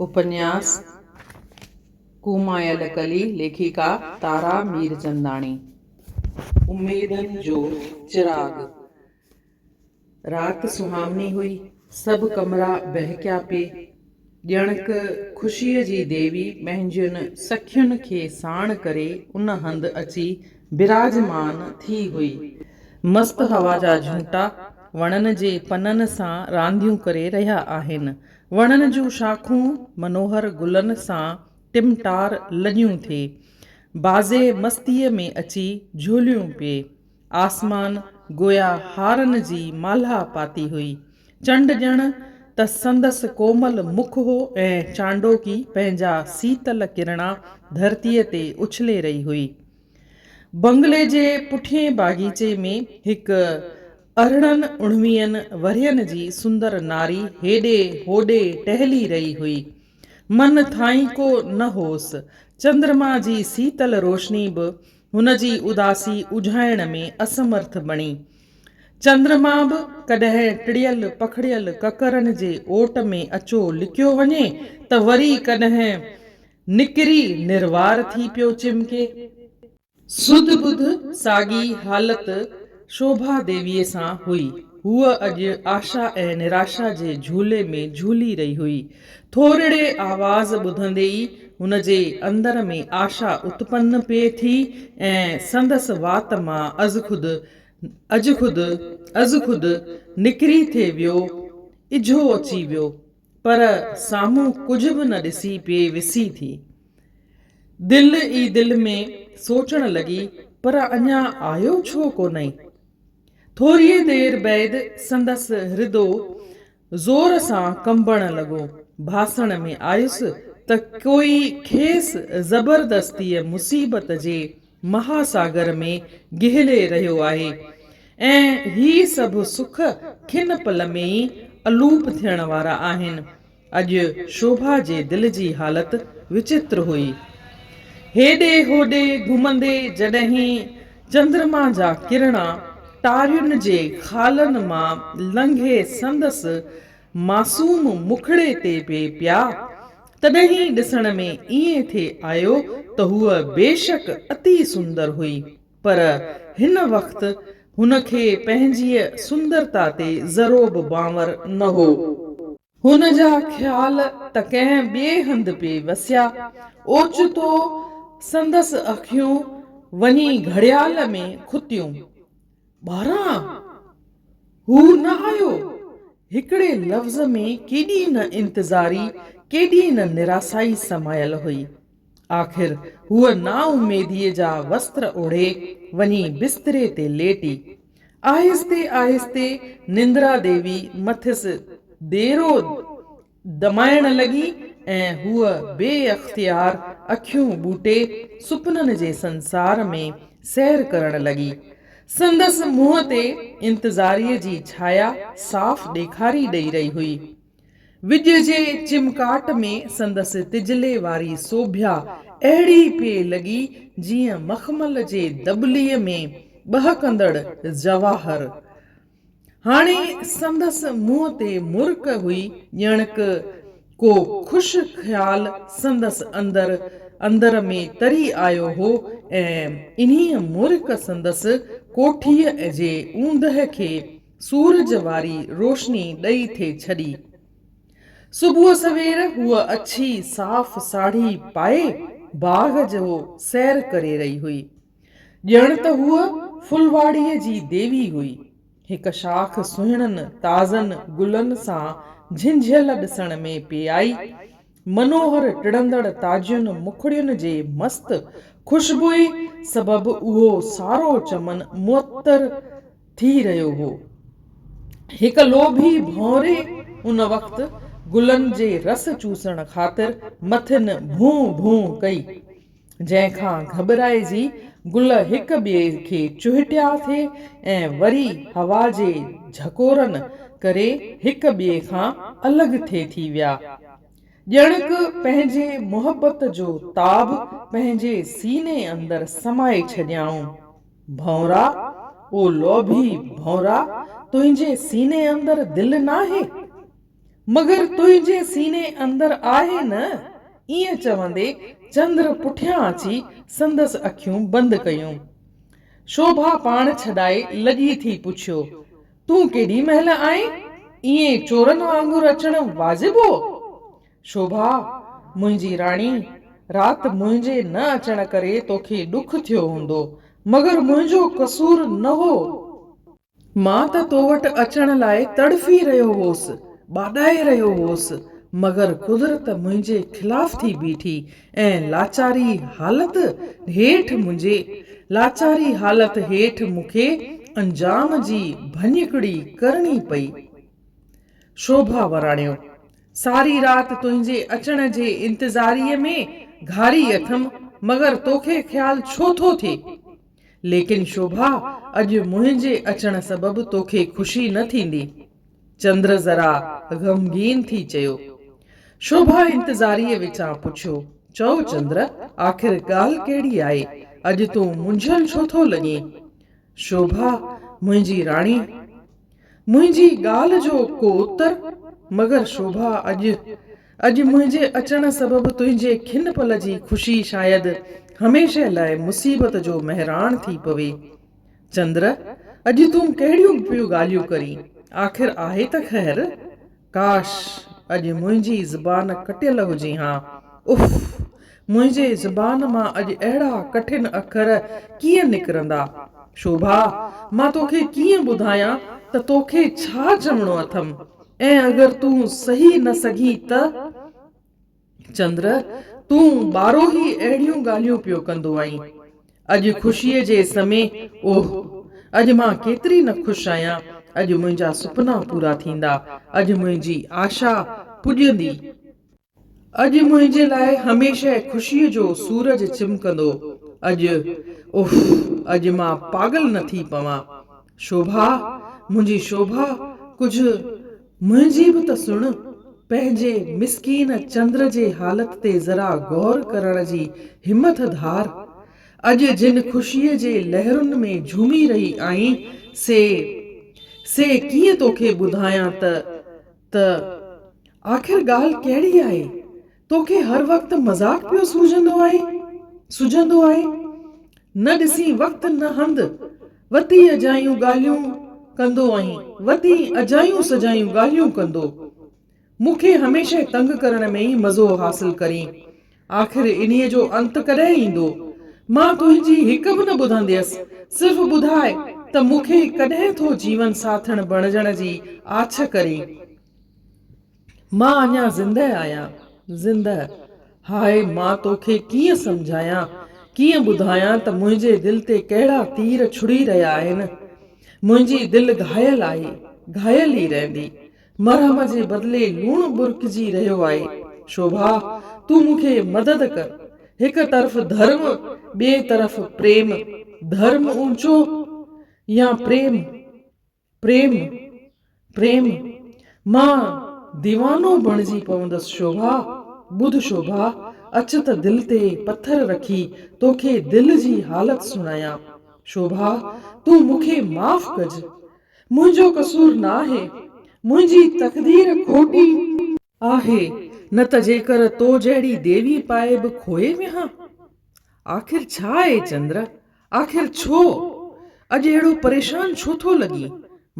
اپنياس ڪومائل ڪلي ليکڪا تارا ميرچنداڻي اميدن جو چراغ رات سهاوڻي هئي سڀ ڪمرا ٻهڪيا پي ڄڻڪ خوشيء جي ديوي پنهنجين سکين کي ساڻ ڪري ان هنڌ اچي براجمان ٿي هئي مست هوا جا جهونٽا وڻن جي پنن سان رانديون ڪري رهيا آهن وڻن جون شاخون منوهر گلن سان ٽمٽار لڳيون ٿي. بازي مستيء ۾ اچي جهوليون پئي. آسمان گويا هارن جي مالها پاتي هئي. چنڊ ڄڻ ته سندس ڪومل مک هو ۽ چانڊوڪي پنهنجا سيتل ڪرڻا ڌرتيء تي اڇلي رهي هئي. بنگلي جي پٺئين باغيچي ۾ هڪ ارڙهن اڻويهن ورهين جي سندر ناري هيڏي هوڏي ٽهلي رهي هئي. من ٿائين ڪو نه هوس. چندرما جي سيتل روشني به هن جي اداسي اجهائڻ ۾ اسمرٿ بڻي. چندرما به ڪڏهن ٽڙيل پکڙيل ڪڪرن جي اوٽ ۾ اچو لڪيو وڃي ته وري ڪڏهن نڪري نروار ٿي پيو چمڪي. سڌ ٻڌ ساڳي حالت شوڀا ديويء سان هئي. هوء اڄ آشا ۽ نراشا جي جهولي ۾ جهولي رهي هئي. ٿورڙي آواز ٻڌندي ئي هن جي اندر ۾ آشا اتپن پئي ٿي ۽ سندس وات مان ازخود ازخود ازخود نڪري ٿي ويو اجهو اچي ويو. پر سامهون ڪجهه به نه ڏسي پئي وسي ٿي. دل ئي دل ۾ سوچڻ لڳي پر اڃا آيو ڇو ڪونهي؟ ٿوريء دير بعد سندس هردو زور سان ڪنبڻ لڳو. ڀاسڻ ۾ آيس ته ڪوئي کيس زبردستيء مصيبت جي مهاساگر ۾ گهلي رهيو آهي ۽ هي سڀ سک کن پل ۾ ئي الوپ ٿيڻ وارا آهن. اڄ شوڀا جي دل جي حالت وچتر هئي. هيڏي هوڏي گهمندي جڏهين چندرما جا ڪرڻا ٽارين جي خالن مان لنگهي سندس معصوم مکڙي تي بي پيا، تڏهين ڏسڻ ۾ ائين ٿي آيو ته هوء بيشڪ اتي سندر هئي، پر هن وقت هن کي پنهنجيء سندرتا تي ذروبه بانور نه هو. هن جا خيال ته ڪنهن ٻئي هنڌ پئي وسيا. اوچتو سندس اکيون وڃي گهڙيال ۾ کتيون. ٻاهران هو نه آيو. هڪڙي لفظ ۾ ڪيڏي نه انتظاري، ڪيڏي نه نراسائي سمايل هئي. آخر هوء نااميديء جا وستر اوڙهي، وڃي بستري تي ليٽي. آهستي آهستي نندرا ديوي مٿس ديرو دمائڻ لڳي ۽ هوء بي اختيار اکيون ٻوٽي سپنن جي سنسار ۾ سير ڪرڻ لڳي. سندس منهن تي انتظاريء جي ڇايا صاف ڏيکاري ڏئي رهي هئي. وڄ جي چمڪاٽ ۾ سندس تجلي واري سوڀيا اهڙي پئي لڳي جيئن مخمل جي دٻلي ۾ ٻهڪندڙ جواهر. هاڻي سندس منهن تي مرڪ هئي، ڄڻڪ ڪو خوش خيال سندس اندر اندر ۾ تري آيو هو ۽ انهيء مرڪ سندس ڪوٺيء جي اوندهه کي سورج واري روشني ڏئي ٿي ڇڏي. صبح سوير هوء اڇي صاف ساڙهي پائي باغ جو سير ڪري رهي هئي. ڄڻ ته هوء ڦلواڙيء جي ديوي هئي. هڪ شاخ سهڻن تازن گلن سان جهنجهيل ڏسڻ ۾ پئي آئي. منوهر ٽڙندڙ تازين مکڙين جي مست خوشبوئي سبب اهو سارو چمن معطر ٿي رهيو هو. هڪ لوڀي ڀونري ان وقت گلن جي رس چوسڻ خاطر مٿن ڀون ڀون ڪئي. جنهن کان گهٻرائجي گل هڪ ٻئي کي چهٽيا ٿي ۽ وري هوا جي جهڪورن ڪري هڪ ٻئي کان الڳ ٿي ٿي ويا. ڄڻڪ پنهنجي محبت جو تاب پنهنجي سيني اندر سمائي ڇڏيائون. ڀؤنرا، او لوڀي ڀؤنرا، تنهنجي سيني اندر دل ناهي؟ مگر تنهنجي سيني اندر آهي نه؟ ائين چوندي چندر پٺيان اچي سندس اکيون بند ڪيون. شوڀا پاڻ ڇڏائي لڳي ٿي پڇيو، تون ڪيڏي مهل آئين؟ ائين چورن وانگر اچڻ واجب هو؟ شوڀا، منهنجي راڻي، رات منهنجي نه اچڻ ڪري توکي ڏک ٿيو هوندو، مگر منهنجو قصور نه هو. مان ته تو وٽ اچڻ لاء تڙڦي رهيو هوس، ٻاڏائي رهيو هوس، مگر قدرت منهنجي خلاف ٿي بيٺي ۽ لاچاري حالت هيٺ منهنجي لاچاري حالت هيٺ مون کي انجام جي ڀڃڪڙي ڪرڻي پئي. شوڀا وراڻيو، ساري رات تنهنجي اچڻ جي انتظاريء ۾ گهاري اٿم، مگر توکي خيال ڇو ٿو ٿئي؟ ليڪن شوڀا، اڄ منهنجي اچڻ سبب توکي خوشي نه ٿيندي. چندر ذرا غمگين ٿي چيو. شوڀا انتظاريء وچان پڇيو، چؤ چندر، آخر ڳالهه ڪهڙي آهي؟ اڄ تون منجهيل ڇو ٿو لڳين؟ شوڀا، منهنجي راڻي! منهنجي ڳالهه جو ڪو اتر؟ مگر شوڀا اڄ. اڄ منهنجي اچڻ سبب تنهنجي کن پل جي خوشي شايد هميشه لاء مصيبت جو مهراڻ ٿي پوي. چندر، اڄ تون ڪهڙيون پيون ڳالهيون ڪرين؟ آخر آهي ته خير؟ ڪاش! اڄ منهنجي زبان ڪٽيل هجي ها. اف! منهنجي زبان مان اڄ اهڙا ڪٺن اکر ڪيئن نڪرندا. شوڀا! مان توکي ڪيئن ٻڌايان ته توکي ڇا چوڻو اٿم. ۽ اگر تون سهي نه سگهين ته؟ چندر، تون ٻارهوهي اهڙيون ڳالهيون پيو ڪندو آهين. اڄ خوشيء جي اس ۾، اوهه! اڄ مان ڪيتري نه خوش آهيان. اڄ منهنجا سپنا پورا ٿيندا. اڄ منهنجي آشا پڄندي. اڄ منهنجي لاء هميشه خوشيء جو سورج چمڪندو. اڄ، اوهه! اڄ مان پاڳل نه ٿي پوان. شوڀا، منهنجي شوڀا، ڪجهه منهنجي به ته سڻ. پنهنجي مسڪين چندر جي حالت تي ذرا غور ڪرڻ جي همٿ ڌار. اڄ جن خوشيء جي لهرن ۾ جهومي رهي آهين، سي، سي ڪيئن توکي ٻڌايان ته، ته آخر ڳالهه ڪهڙي آهي؟ توکي هر وقت مذاق پيو سوجهندو آهي، سجهندو آهي. نه ڏسين وقت نه هنڌ، وتي اجايون ڳالهيون ڪندو آهين، وتي اجايون سجايون ڳالهيون ڪندو. مون کي هميشه تنگ ڪرڻ ۾ ئي مزو حاصل ڪرين. آخر انهيء جو انت ڪڏهن ايندو؟ مان تنهنجي هڪ به نه ٻڌنديس، صرف ٻڌاء ته مون کي ڪڏهن ٿو جيون ساٿڻ بڻجڻ جي آڇ ڪرين؟ مان اڃا زندهه آهيان. زندهه، هاء مان توکي ڪيئن سمجهايان، ڪيئن ٻڌايان ته منهنجي دل تي ڪهڙا تير ڇڙي رهيا آهن. منهنجي دل گهايل آهي، گهايل ئي رهندي. مرهم جي بدلي لوڻ ٻرڪجي رهيو آهي. شوڀا، تون مون کي مدد ڪر. هڪ طرف ڌرم، ٻئي طرف پريم. ڌرم اونچو يا پريم؟ پريم، پريم، مان ديوانو بڻجي پوندس شوڀا، ٻڌ شوڀا، اچ ته دل تي پٿر رکي توکي دل جي حالت سڻايان، شوڀا، تون مون کي معاف ڪج، منهنجو قصور ناهي، منهنجي تقدير کوٽي، آهي، نه ته جيڪر تو جهڙي ديوي پائي به کوئي ويهان. آخر ڇا اي چندر، آخر ڇو؟ اڄ اهڙو پريشان ڇو ٿو لڳين؟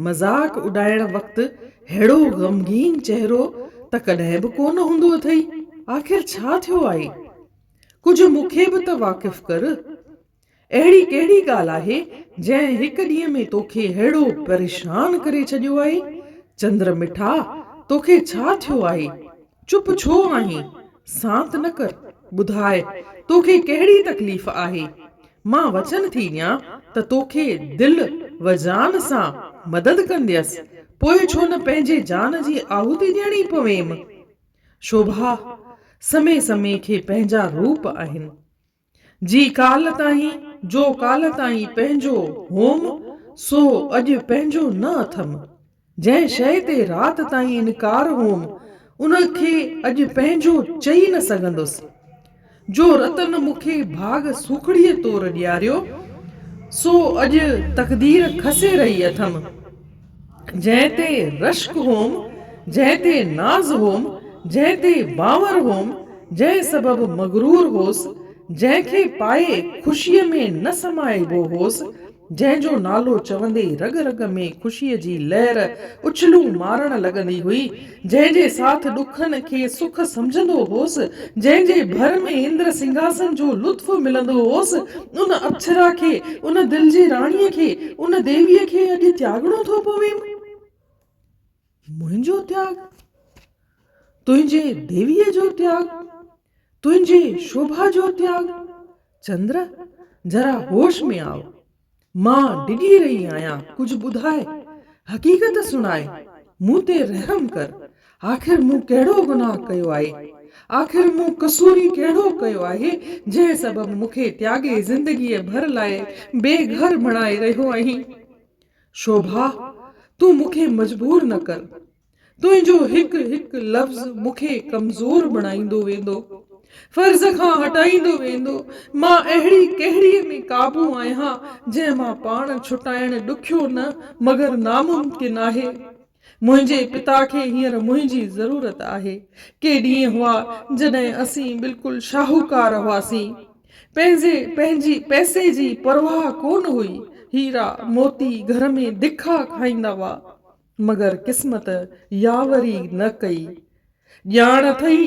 مذاق اڏائڻ وقت ههڙو غمگين چهرو ته ڪڏهن به ڪو نه هوندو اٿئي، آخر ڇا ٿيو آهي؟ ڪجهه مون کي به ته واقف ڪر. اهڙي ڪهڙي ڳالهه آهي، جنهن هڪ ڏينهن ۾ توکي ههڙو پريشان ڪري ڇڏيو آهي؟ چندر مٺا، توکي ڇا ٿيو آهي؟ چپ ڇو آهين؟ سانت نه ڪر، ٻڌاء، توکي ڪهڙي تڪليف آهي؟ مان وچن ٿي ڏيان ته توکي دل و جان سان مدد ڪنديس، پوء ڇو نه پنهنجي جان جي آهوتي ڏيڻي پويم؟ شوڀا، سمي سمي کي پنهنجا روپ آهن. جي ڪالهه تائين، جو ڪالهه تائين پنهنجو هوم، سو اڄ پنهنجو نه اٿم. جنهن شيء تي رات تائين انڪار هوم، ان کي اڄ پنهنجو چئي نه سگهندس. جو رتن مون کي ڀاڳ سوکڙيء طور ڏياريو، سو اڄ تقدير کسي رهي اٿم. جنهن تي رشڪ هوم، جنهن تي ناز هوم، جنهن تي باور هوم، جنهن سبب مغرور هوس، جنهن کي پائي خوشيء ۾ نه سمائبو هوس، جنهن جو نالو چوندي رڳ رڳ ۾ خوشيء جي لهر اڇلون مارڻ لڳندي هئي، جنهن جي ساٿ ڏکن کي سک سمجهندو هوس، جنهن جي ڀر ۾ اندر سنگهاسن جو لطف ملندو هوس، ان اپسرا کي، ان دل جي راڻيء کي، ان ديويء کي اڄ تياڳڻو ٿو پويم. منهنجو تياڳ؟ تنهنجي ديويء جو تياڳ؟ تنهنجي شوڀا جو تياڳ؟ چندر، ذرا هوش ۾ آء. مان ڊڄي رهي آهيان، ڪجهه ٻڌاء، حقيقت سڻاء، مون تي رحم ڪر، آخر مون ڪهڙو گناهه ڪيو آهي، آخر مون قصوري ڪهڙو ڪيو آهي، جنهن سبب مون کي تياڳي زندگيء ڀر لاء بي گهر بڻائي رهيو آهين. شوڀا، تون مون کي مجبور نه ڪر. تنهنجو هڪ هڪ لفظ مون کي ڪمزور بڻائيندو ويندو، فرض کان هٽائيندو ويندو، مان اهڙي ڪهڙيء ۾ قابو آهيان جنهن مان پاڻ ڇٽائڻ ڏکيو نه مگر ناممڪن آهي. منهنجي پتا کي هينئر منهنجي ضرورت آهي. ڪي ڏينهن هئا جڏهن اسين بلڪل شاهوڪار هئاسين. پنهنجي پنهنجي پئسي جي پرواهه ڪونه هئي. هيرا، موتي گهر ۾ دکا کائيندا هئا. مگر قسمت ياوري نه ڪئي. ڄاڻ اٿئي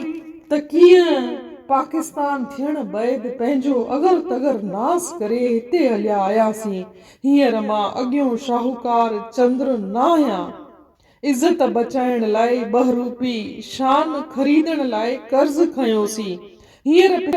ته ڪيئن پاڪستان ٿيڻ بعد پنهنجو اگر تگر ناس ڪري هتي هليا آياسين. هينئر مان اڳيون شاهوڪار چندر ناهيان. عزت بچائڻ لاء ٻه روپي شان خريدڻ لاء قرض کنيوسين. هينئر پڇا.